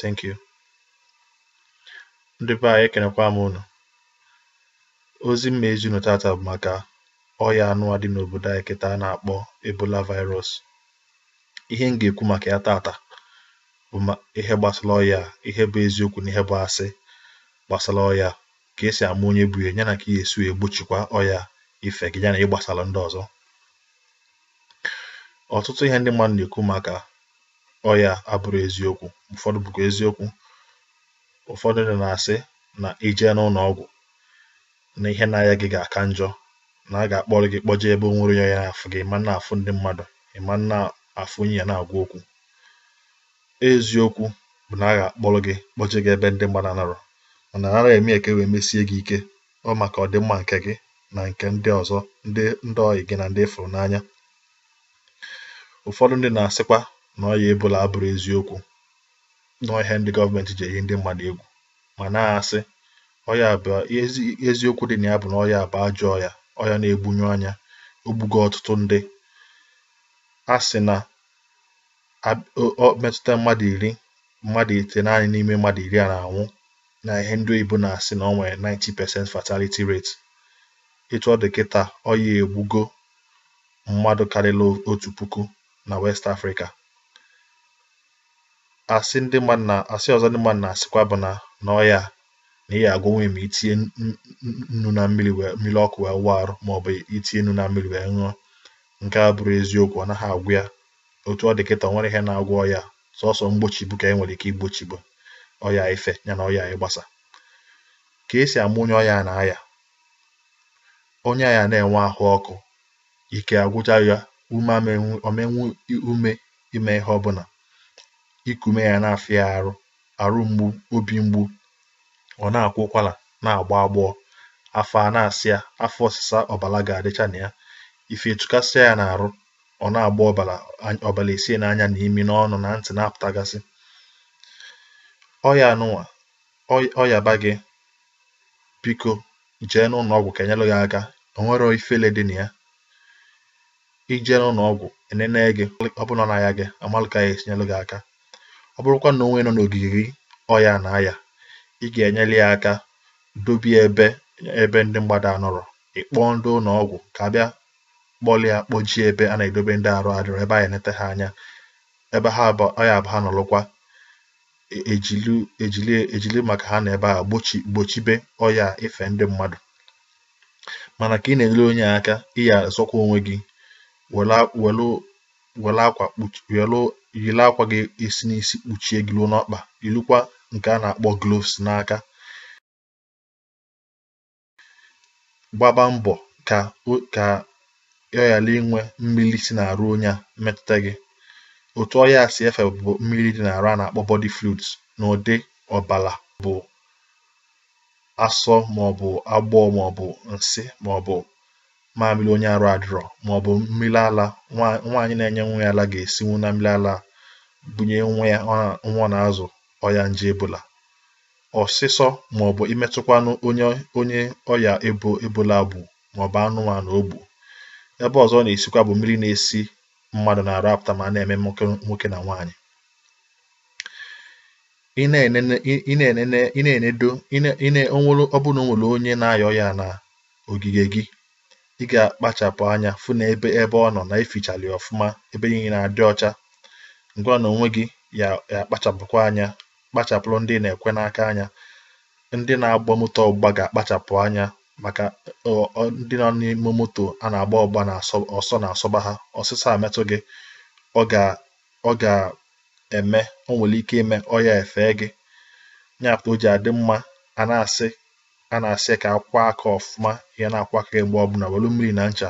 thank you ndị be anyị ekenekwa m unu ozi m ma-ezi unu tata bụ maka ọya anụwa dị n'obodo anyị kịta a na-akpọ ebola virus ihe m ga-ekwu maka ya tata bụ ihe gbasara ọya ihe bụ eziokwu na ihe bụ asị gbasara ọya ka esi ama onye bu ya ya na ka ị ya-esi egbochikwa ọya ife gị ya na ịgbasara ndị ọzọ ọtụtụ ihe ndị mmadụ na-ekwu maka ọya abụrọ eziokwu ụfọdụ bụkwa eziokwu ụfọdụ ndị na-asị na i jee n'ụlọ ọgwụ na ihe na-aya gị ga-aka njọ na a ga-akpọrọ gị kpọjee ebe o nwerọ onye ya-afụ gị ị ma na-afụ ndị mmadụ ị ma na-afụ onye ị ya na-agwa okwu eziokwu bụ na a ga-akpọrọ gị kpọjee gị ebe ndị mmadụ anọrọ mana a naghị eme ya ka e wee mesie gị ike ọ maka ọdịmma nke gị na nke ndị ọzọ ndị ndị ọyị gị na ndị ị fụrụ n'anya ụfọdụ ndị na-asịkwa na ọya ebola abụrọ eziokwu na ihe ndị gọọmenti ji eyi ndị mmadụ egwu mana asị ọya bụ eziokwu dị na ya bụ na ọya bụ ajọ ọya ọya na-egbunyu anya o gbugo ọtụtụ ndị a sị na o metụta mmadụ iri mmadụ itenaanị n'ime mmadụ iri a na-anwụ na ihe ndị oyibo na-asị na ọ nwere 90% fatality rate etu ọ dị kịta ọya egbugo mmadụ karịrị otu puku na West Africa. Asị ndị mmadụ na asị ọzọ ndị mmadụ na-asịkwa bụ na na ọya na ị ga-agwọnwu ya ma i tinye n- n- n- nnu na mmiri wee mmiri ọkụ wee wụọ arụ ma ọ bụ i tinye nnu na mmiri wee ṅụọ nke a abụrọ eziokwu ọ naghị agwọ ya otu ọ dị kịta o nwerọ ihe na-agwọ ọya sọsọ mgbochibu ka e nwere ike igbochibu ọya ife ya na ọya ịgbasa ka esi ama onye ọya na-aya onye a ya na-enwe ahụ ọkụ ike agwụcha ya ume ọ ma enwe ume ime ihe ọbụla iku ume ya na-afịa ya arụ arụ mgbu obi mgbu ọ na-akwa ụkwara na-agba agbọ afọ a na-asa ya afọ ọsịsa ọbara ga-adịcha na ya ife etukasịa ya n'arụ ọ na-agba ọbara ọbara esi ya n'anya na imi n'ọnụ na ntị na-apụtagasị ọya anụnwa ọ yaba gị biko jee n'ụlọ ọgwụ ka e nyere gị aka o nwerọ ifele dị na ya i jee n'ụlọ ọgwụ e nene gị ọ bụrụ na ọ na-aya gị a malụ ka a ya-esi nyere gị aka ọ bụrụkwa na o nwe onye nọ n'ogige gị ọya na-aya ị ga-enyere ya aka dobe ya ebe ebe ndị mmadụ anọrọ ị kpọọ ndị ụlọ ọgwụ ka a bịa kpọlụ ya kpọje ya ebe a na-edobe ndị arụ adịrọ ebe a ya-enete ha anya ebe ha bụ ọya bụ ha nọrọkwa ejili ejili ejili maka ha na ebe a gbochi gbochibe ọya ife ndị mmadụ mana ka ị na-enyere onye a aka ị ya azọkwa onwe gị were a- were were akwa kpuchi were yiri akwa ga-esi n'isi kpuchie gị ruo n'ọkpa yirikwa nke a na-akpọ gloves n'aka gbaba mbọ ka ka ọ ghara inwe mmiri si n'arụ onye a metụta gị otu ọya si efe bụ mmiri dị n'arụ a na-akpọ body fluids n'ụdị ọbara bụ asọ maọbụ agbọ maọbụ nsị maọbụ mamịrị onye arụ adịrọ maọbụ mmiri ala nwaanyị na-enye nwa ya ala ga-esinwu na mmiri ala bunye nwa ya nwa ọ na-azụ ọya nje ebola ọsịsọ maọbụ imetụkwanụ onye onye ọya ebo ebola gbu maọbụ anụmanụ o gbu ebe ọzọ ọ na-esikwa bụ mmiri na-esi mmadụ n'arụ apụta ma a na-eme nwoke na nwaanyị ị na-enene ị na-enene ị na-enedo ị na onwere ọ bụrụ na onwere onye na-aya ọya na ogige gị ị ga-akpachapụ anya fụ na ebe ebe ọ nọ na efichala ya ọfụma ebe niile na-adị ọcha gịnwa na onwe gị ya akpachapụkwa anya kpachapụrụ ndị ị na-ekwe n'aka anya ndị na-agba moto ọgbụgba ga-akpachapụ anya maka ndị nọ n'ime moto a na-agba ọgba na ọsọ na-asọba ha ọsịsọ a metụ gị ọ ga-eme o nwere ike ime ọya efe gị ya kpata o ji adị mma a na-asị a na-asị ka akwọọ aka ọfụma ị ya na-akwọ aka gị mgbe ọbụla welu mmiri na ncha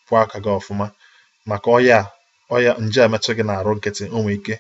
kwọọ aka gị ọfụma maka ọya ọya nje a metụ gị n'arụ nkịtị o nwee ike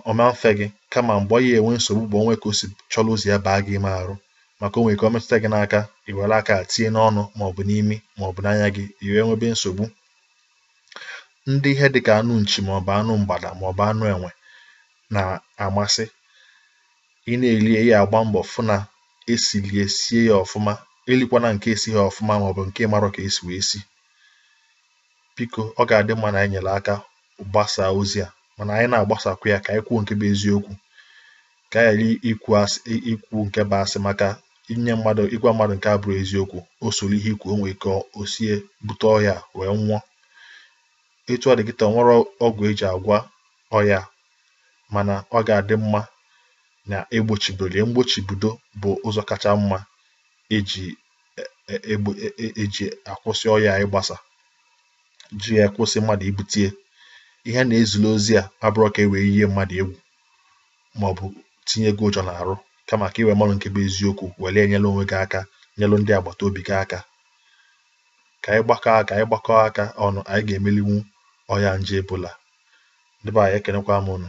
ọ ma efe gị kama mgbe ọ ya enwe nsogbu bụ o nwee ka o si chọrọ ụzọ ya baa gị ime arụ maka o nwere ike ọ metụta gị n'aka i were aka tinye n'ọnụ ma ọ bụ n'imi ma ọ bụ n'anya gị i wee nwebe nsogbu ndị ihe dị ka anụ nchi ma ọ bụ anụ mgbada ma ọ bụ anụ enwe na-amasị ị na-eli ya agba mbọ fụ na esilie sie ya ọfụma elikwana nke esighị ọfụma ma ọ bụ nke ị marọ ka esi wee si biko ọ ga-adị mma na anyị nyere aka gbasaa ozi a mana anyị na-agbasakwa ya ka anyị kwuo nke bụ eziokwu ka anyị ghara ikwu nke bụ asị maka inye mmadụ ịgwa mmadụ nke abụrọ eziokwu o soro ihe i kwu o nwee ike o sie bute ọya wee nwụọ etu ọ dị kịta enwerọ ọgwụ eji agwọ ọya mana ọ ga-adị mma na egbochibere ya mgbochibido bụ ụzọ kacha mma eji akwụsị ọya ịgbasa ji akwụsị mmadụ ibute ya ihe na-ezila ozi a abụrọ ka e wee yie mmadụ egwu maọbụ tinye gị ụjọ n'arụ kama ka i wee marụ nke bụ eziokwu were enyelụ onwe gị aka nyelụ ndị agbata obi gị aka ka anyị gbakọọ aka ọnụ anyị ga-emelinwu ọya nje ebola ndị be anyị ekenekwa m unu